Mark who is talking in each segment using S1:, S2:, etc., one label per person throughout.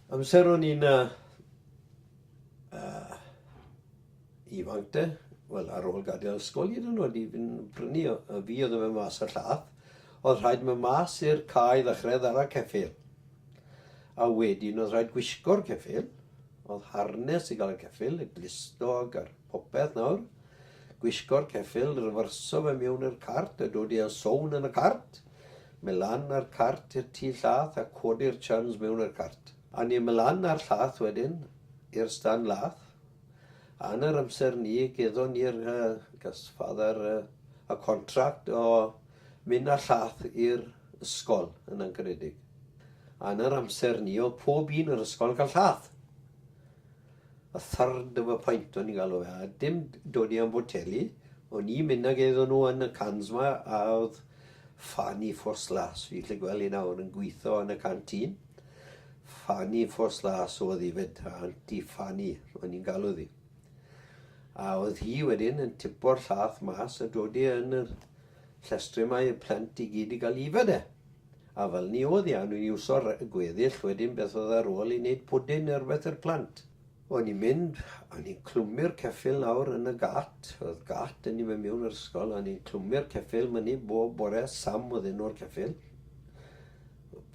S1: Amser o'n i'n ifanc de, wel ar ôl gadael ysgol hyd yn oed i fynd prynu o, y fi oedd yn mynd mas y llath, oedd rhaid mynd mas i'r cae ddechrau ar y ceffil. A wedyn oedd rhaid gwisgo'r ceffil, oedd harnes i gael y ceffil, y glistog a'r popeth nawr, gwisgo'r ceffil, ryfyrso fe mewn i'r cart a dod i a sown yn y cart, Mae lan a'r cart i'r tu llath a codi'r churns mewn i'r cart. A ni mae lan a'r llath wedyn i'r stan lath. A yn yr amser ni geddon ni'r yy gas father yy y contract o mynd â'r llath i'r ysgol yn angenedig. A yn yr amser ni oedd pob un yr ysgol yn cael llath. A third of a pint o'n i'n galw fe, a dim dodi am foteli, o'n i'n mynd ag e iddon nhw yn y cans 'ma a oedd Fanny First Lass, fi'n gallu gweld hi nawr, yn gweithio yn y canteen. Fanny First Lass oedd hi 'fyd, Aunty Fanny o'n i'n galw ddi. A oedd hi wedyn yn tipo'r llath mas a dodi yn yr llestri 'ma i'r plant i gyd i gael yfed e. A fel ni oedd i anw i iwso'r gweddill wedyn beth oedd ar ôl i wneud pwdin neu rywbeth i'r plant? O'n i'n mynd a o'n i'n clwmu'r ceffyl nawr yn y gât, oedd gât 'da ni fan miwn yr ysgol, a o'n i'n clwmu'r ceffyl myny bob bore, Sam oedd enw'r ceffyl.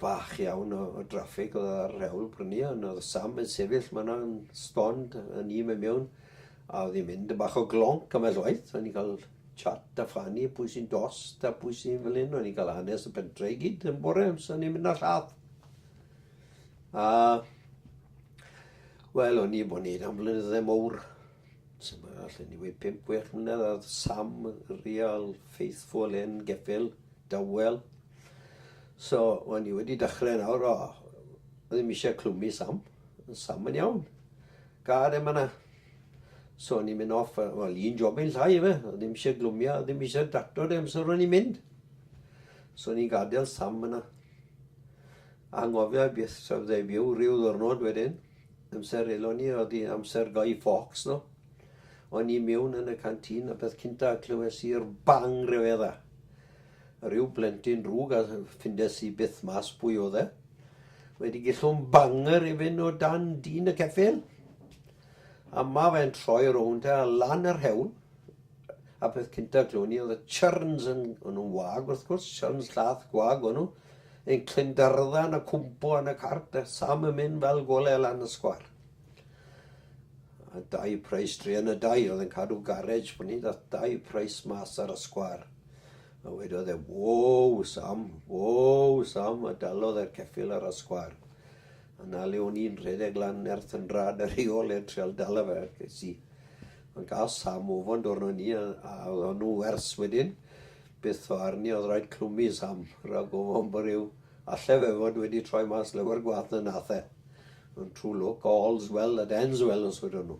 S1: Bach iawn o, o draffig oedd ar yr hewl brynu, ond oedd Sam yn sefyll ma'na yn stond a ni fan miwn, a oedd hi'n mynd yn bach o glonc ambell waith, o'n i'n cael chat a phlannu pwy sy'n dost a pwy sy'n fel hyn. O'n i'n cael hanes y pentre i gyd yn bore amser o'n i'n mynd ar lladd. A wel, o'n i bod wneud am flynyddau mowr. Dyma, allan ni wedi 5-6 mlynedd ar Sam, Real, Faithful, Hen Geffil, Dawel. So, o'n i wedi dechrau nawr, o, ddim eisiau clwmu Sam. Sam yn iawn. Care ma na. So o'n i'n mynd off, a, wel, un job i'n llai efe, a ddim eisiau glwmio, a ddim eisiau dacto de amser o'n i'n mynd. So o'n i'n gadael Sam yna. Anghofio beth sef dde byw rhyw ddwrnod wedyn, amser elon ni, oedd hi amser Guy Fawkes, no? O'n i mewn yn y cantin, a beth cynta clywes i'r bang rhyfedda. Rhyw blentyn drwg a ffindes i byth mas pwy oedd e. Wedi gillwm banger i fyn o dan dyn y ceffyl. A ma fe'n troi rownd a lan yr hewl. A peth cynta clwn i oedd y churns yn, o'n nhw'n wag wrth gwrs, churns llath gwag o'n nhw, yn clyndarddau yn y cwmpo yn y cart a Sam yn mynd fel gole lan y sgwar. A dau prais druan y dau oedd yn cadw garej pan ni ddath dau prais mas ar y sgwar. A wedodd e, wow Sam, wow Sam, a dalodd e'r ceffil ar y sgwar. A na le o'n i'n rhedeg lan nerth yn rad ar ei ôl e'n treol dalo fe, ces i. Ond gael Sam ofon dwrn o'n i, a, a oedd o'n nhw wers wedyn. Byth o arni oedd rhaid clwmu Sam, rhag ofon bod rhyw Alle fe fod wedi troi mas lawer gwaeth na nath e. Ond true luck, all's well that ends well os wedon nhw.